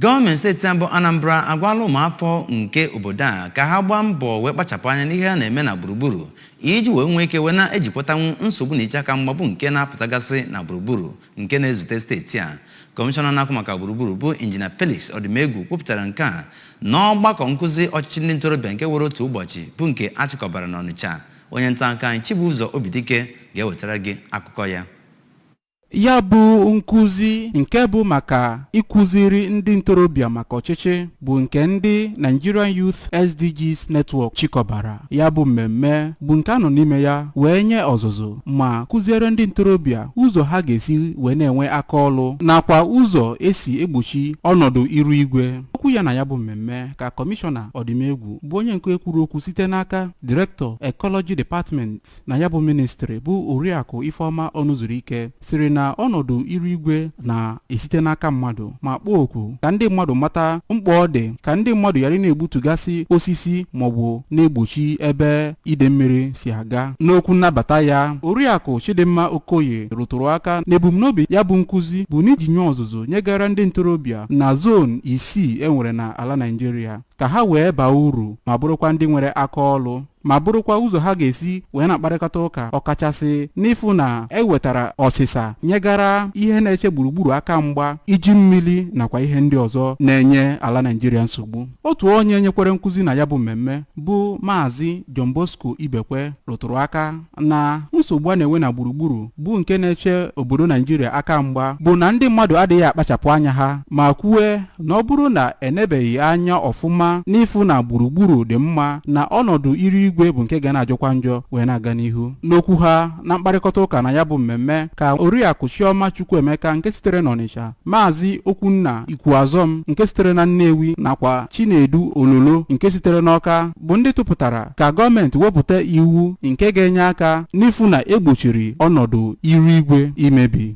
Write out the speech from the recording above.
Gọọmenti steeti a bụ Anambra agwala ụmụafọ nke obodo a ka ha gbaa mbọ wee kpachapụ anya n'ihe a na-eme na gburugburu iji wee nwee ike wee na-ejikwatanwu nsogbu na iche aka mgba bụ nke na-apụtagasị na gburugburu nke na-ezute steeti a. Kọmishọna na-ahụ maka gburugburu bụ Injinia Felix Ọdịmegwu kwupụtara nke a n'ọgbakọ nkụzi ọchịchị ndị ntorobịa nke were otu ụbọchị bụ nke a chịkọbara n'Ọnịcha. Onye nta akụkọ anyị Chibụzọ Obidike ga-ewetara gị akụkọ ya. Ya bụ nkụzi nke bụ maka ịkụziri ndị ntorobịa maka ọchịchị bụ nke ndị Nigerian Youth SDGs Network chịkọbara ya bụ mmemme bụ nke a nọ n'ime ya wee nye ọzụzụ ma kụziere ndị ntorobịa ụzọ ha ga-esi wee na-enwe aka ọlụ nakwa ụzọ e si egbochi ọnọdụ iru igwe okwu ya na ya bụ mmemme ka kọmishọna ọdịmegwu bụ onye nke kwuru okwu site n'aka direktọ Ecology Department na ya bụ ministri bụ oriakụ ifeọma ọnụzuruike sịrị na ọnọdụ iru igwe na-esite n'aka mmadụ ma kpọọ oku ka ndị mmadụ mata mkpa ọ dị ka ndị mmadụ ghara na-egbutugasị osisi maọbụ na-egbochi ebe ide mmiri si aga n'okwu nnabata ya oriakụ chidimma okoye rụtụrụ aka na ebumnobi ya bụ nkụzi bụ n'iji nye ọzụzụ nyegara ndị ntorobịa na zon isii e nwere na ala naijiria ka ha wee baa uru ma bụrụkwa ndị nwere aka ọlụ ma bụrụkwa ụzọ ha ga-esi wee na-akparịkọta ụka ọkachasị n'ịfụ na e wetara ọsịsa nyegara ihe na-eche gburugburu aka mgba iji mmiri nakwa ihe ndị ọzọ na-enye ala Naijiria nsogbu otu onye nyekwere nkụzi na ya bụ mmemme bụ Maazị John Bosco Ibekwe rụtụrụ aka na nsogbu a na-enwe na gburugburu bụ nke na-eche obodo naijiria aka mgba bụ na ndị mmadụ adịghị akpachapụ anya ha ma kwue na ọ bụrụ na e nebeghị anya ọfụma n'ịfụ na gburugburu dị mma na ọnọdụ iru igwe bụ nke ga na-ajọkwa njọ wee na-aga n'ihu n'okwu ha na mkparịkọta ụka na ya bụ mmemme ka oriakụ chioma chukwuemeka nke sitere n'ọnịcha maazị okwunna ikwuazọm nke sitere na nnewi nakwa chinedu ololo nke sitere n'ọka bụ ndị tụpụtara ka gọọmenti wepụta iwu nke ga-enye aka n'ịfụ na e gbochiri ọnọdụ iru igwe imebi